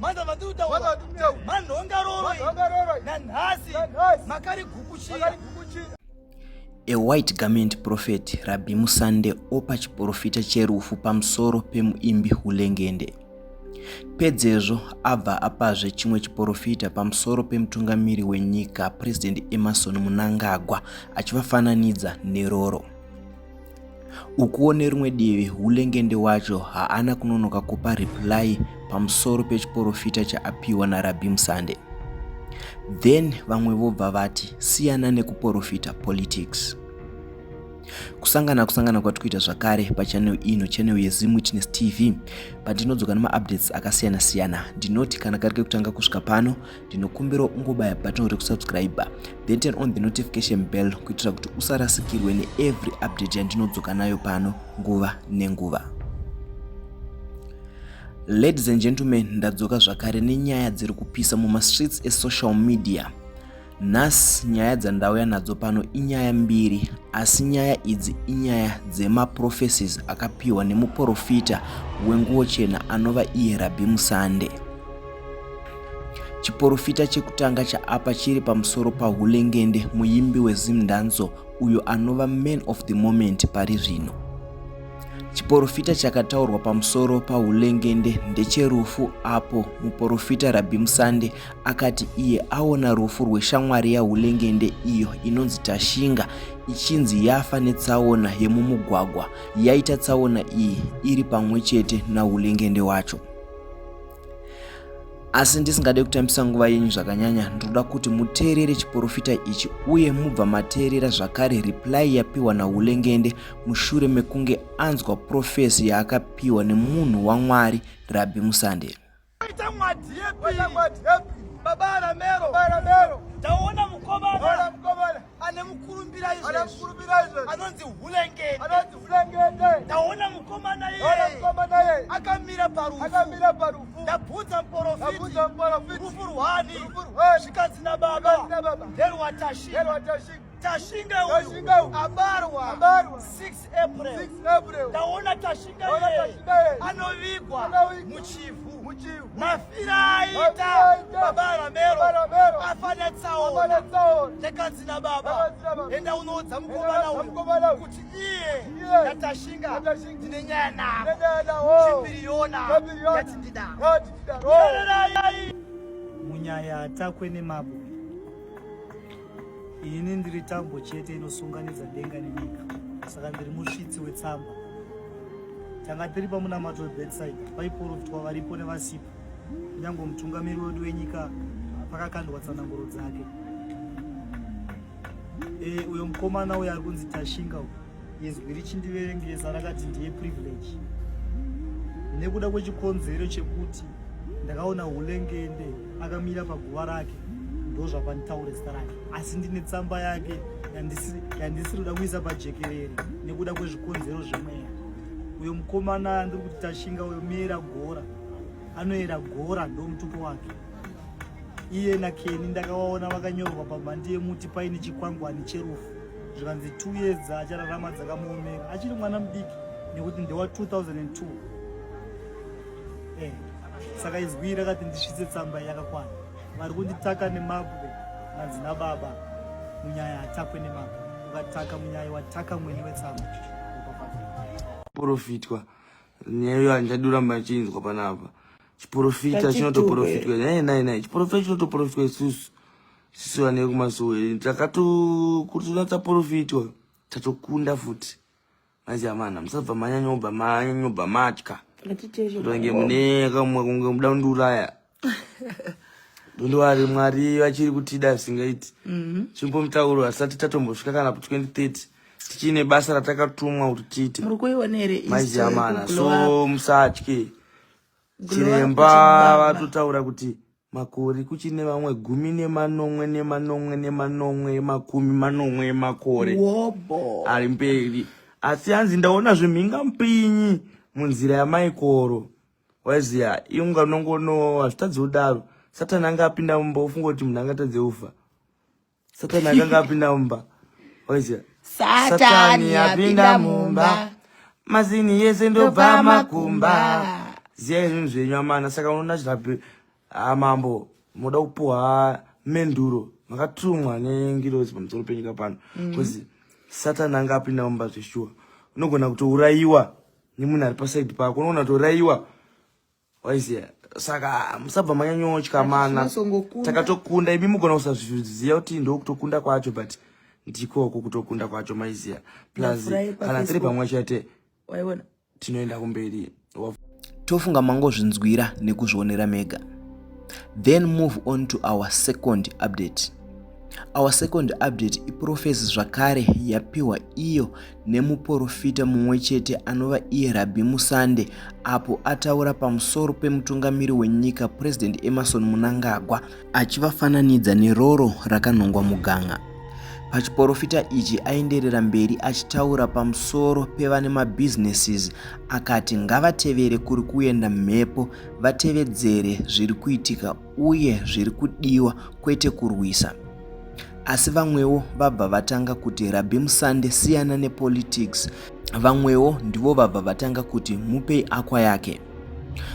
manda vatutaura manhongaroroi nanhasi makari gukuchira A white garment prophet Rabbi Musande opa chiporofita cherufu pamusoro pemuimbi Hulengende. Pedzezvo abva apazve chimwe chiporofita pamusoro pemutungamiri wenyika President Emerson Munangagwa achivafananidza neroro. Ukuwo nerimwe divi, Hulengende wacho haana kunonoka kupa reply pamusoro pechiporofita chaapiwa naRabbi Msande. Then vamwe vobva vati, siyana nekuporofita politics. Kusangana kusangana kwati kuita zvakare pachannel ino channel yeZim Witness TV pandinodzoka nemaupdates akasiyana siyana. Ndinoti kana kari kekutanga kusvika pano ndinokumbira ungobaya button rekusubscribe then turn on the notification bell kuitira kuti usarasikirwe neevery update yandinodzoka nayo pano nguva nenguva ladies and gentlemen ndadzoka zvakare nenyaya dziri kupisa mumastreets esocial media nhasi nyaya dzandauya nadzo pano inyaya mbiri asi nyaya idzi inyaya dzemaprophecies akapiwa nemuprofita wenguwo chena anova iye rabhi musande Chiporofita chekutanga chaapa chiri pamusoro paHulengende, muimbi weZimdanso uyo anova man of the moment pari zvino. Chiporofita chakataurwa pamusoro paHulengende ndecherufu apo muporofita Rabbi Musande akati iye aona rufu rweshamwari yaHulengende iyo inonzi Tashinga ichinzi yafa netsaona yemumugwagwa yaita tsaona iyi iri pamwe chete naHulengende wacho. asi ndisingade kutambisa nguva yenyu zvakanyanya ndinoda kuti muteerere chiporofita ichi uye mubva mateerera zvakare reply yapiwa naulengende mushure mekunge anzwa profesi yaakapiwa nemunhu wamwari rabhi musande Baba Ramero, Baba Ramero, taona mukoma ane mukurumbira anonzi hulengetaona mukomana iye akamira parufu ndabvunza muporofitirufu rwani zvikanzi nababa nderwatashinga tashinga uyu abarwa 6 taona tashinga anovigwa muchivhu mafira aita baba ramero afana tsaona nekanzi nababa enda unoudza mukomana uyu kuti iye natashinga ndine nyaya navo chipiriyona yati ndidaro munyaya atakwe nemabuya Ini ndiri tambo chete inosunganidza denga nenyika, saka ndiri musvitsi wetsamba. Tanga tiri pamunamato weBetside, paiprofitwa varipo nevasipo, kunyange mutungamiri wedu wenyika pakakandwa tsananguro dzake. E, uyo mukomana uyo ari kunzi Tashinga uyo izwi richindiverengesa rakati ndiye privilege nekuda kwechikonzero chekuti ndakaona hulengende akamira paguva rake ndozvakanditaure zita rake asi ndine tsamba yake yandisiri kuda kuisa pajekerere nekuda kwezvikonzero zvemweya uyo mukomana ndiri kuti tashinga uyo meera gora anoera gora ndomutupo wake iye nakeni ndakavaona vakanyorwa pamandi yemuti paine chikwangwani cherufu zvikanzi two years achararama dzakamuomera achiri mwana mudiki nekuti ndewa 2002 eh, saka izwi rakati ndisvitse tsamba yakakwana vari kunditaka nemabwe hanzi nababa munyaya hatakwe nemabwe ukataka munyaya wataka mwene wetsamba porofitwa nyaya iyo handaduramba ndichinzwa panapa chiporofita chinotoporofitwa nai nai nai chiporofita chinotoporofitwa isusu sisi vana vekumasowe eh, takatokutonatsa profiti wayo tatokunda futi manje amana musabva manyanyobva manyanyobva matya kutonge mune kamwe kunge muda kundiuraya ndondiwari mwari vachiri kutida zvisingaiti mhm. chimbo mutauro hasati tatombosvika kana ku 2030 tichiine basa ratakatumwa kuti tiite manje amana so musatye chiremba vatotaura kuti Makore kuchine vamwe gumi nemanomwe nemanomwe nemanomwe makumi manomwe emakore ari mberi asi hanzi ndaona zvemhinga mpinyi munzira yamaikoro waiziva inga unongono hazvitadzi kudaro satani anga apinda mumba ofunga kuti munhu angatadze kufa Satani akanga apinda mumba. Oizia. Satani apinda mumba. Mazini yese ndobva makumba. Ziyai zvinhu zvenyu amana saka unoona zvilapi ah, mambo moda kupuwa menduro makatumwa nengirozi pamusoro penyika pano mm. bcause satani anga apinda mumba zveshuwa unogona kutourayiwa nemunhu ari pasaidi pako unogona kutourayiwa waiziya saka musabva manyanyotya mana takatokunda imi mugona kusazviziva kuti ndokutokunda kwacho but ndikoko kutokunda kwacho maiziya plus kana tiri pamwe chete tinoenda kumberi tofunga mangozvinzwira nekuzvionera mega then move on to our second update our second update iprofesi zvakare yapiwa iyo nemuporofita mumwe chete anova iye Rabhi Musande apo ataura pamusoro pemutungamiri wenyika President Emerson Munangagwa achivafananidza neroro rakanhongwa muganga. Pachiporofita ichi aenderera mberi achitaura pamusoro pevane mabusinesses akati ngavatevere kuri kuenda mhepo vatevedzere zviri kuitika uye zviri kudiwa kwete kurwisa asi vamwewo vabva vatanga kuti rabhi musande siyana nepolitics vamwewo ndivo vabva vatanga kuti mupei akwa yake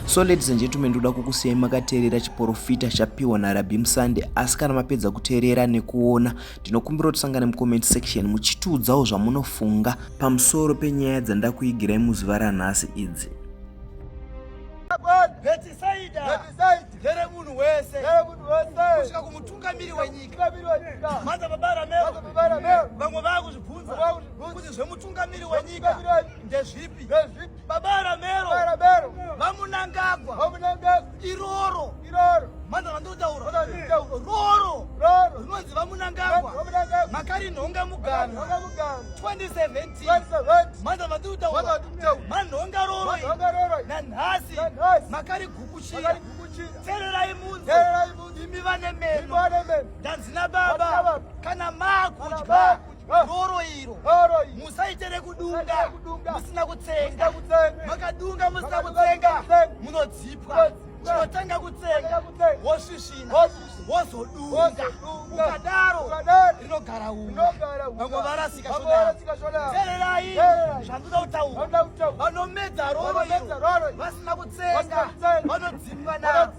so ladies and gentlemen ndoda kukusiyai makateerera chiporofita chapiwa narabhi musande asi kana mapedza kuteerera nekuona ndinokumbira kuti sangane mucomment section muchitiudzawo zvamunofunga pamusoro penyaya dzandakuigirai muzuva ranhasi idzi Ndere munhu wese kusvika kumutungamiri wenyika mhanza babara mero vamwe vakuzvibvunza kuti zvemutungamiri wenyika ndezvipi babara mero vamunangagwa iroro mhanza vandinotaura roro rinonzi vamunangagwa makari nhonga mugano 2017 manda vatutaura manhonga roroi nanhasi makarigukuchira tererai munzi imi vane meno ndanzi nababa kana makudya roro iro musaite rekudunga musina kutsenga makadunga musina kutsenga munodzipwa chinotanga kutsenga wosvisvina wozodunga ukadaro rinogara vamwe varasika tererai zvandoda kutaura vanomedza roro iro vasina kutsenga vanodzimwa naro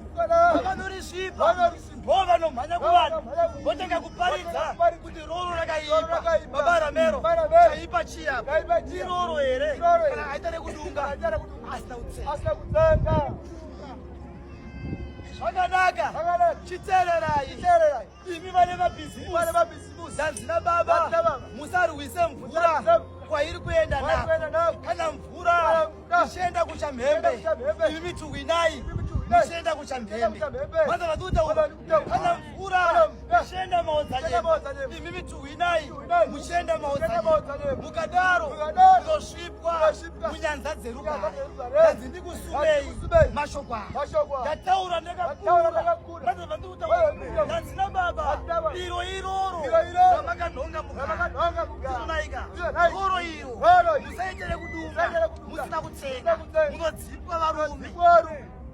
vavanorisvipa vo vanomhanya kuvanhu votanga kuparidza kuti roro rakaipa babara mero chaipa chiyapa iroro here kana aita rekudunga asina kutsenga Zvakanaka. Zvakanaka. Chitererai. Chitererai. Imi vane mabhizimusi. Vane mabhizimusi. Zvanzi na baba. Zvanzi na baba. Musarwise mvura. Kwairi kuenda nako. Kana mvura. Ichienda kuchamhembe. Imi mituwinai. Ichienda kuchamhembe. Mwanza vaduta uko. kana mvura muchenda maodzanyemba imi mituhwinai muchenda maodzanyemba mukadaro muzosvipwa munyanza dzerugare hanzi ndikusumei mashoko aya ndataura ndakakura ndandikutaurandina baba iro iroro ramakanhonga mukaonaika roro iro musaitere kudunga musina kutsenga munodzipwa varume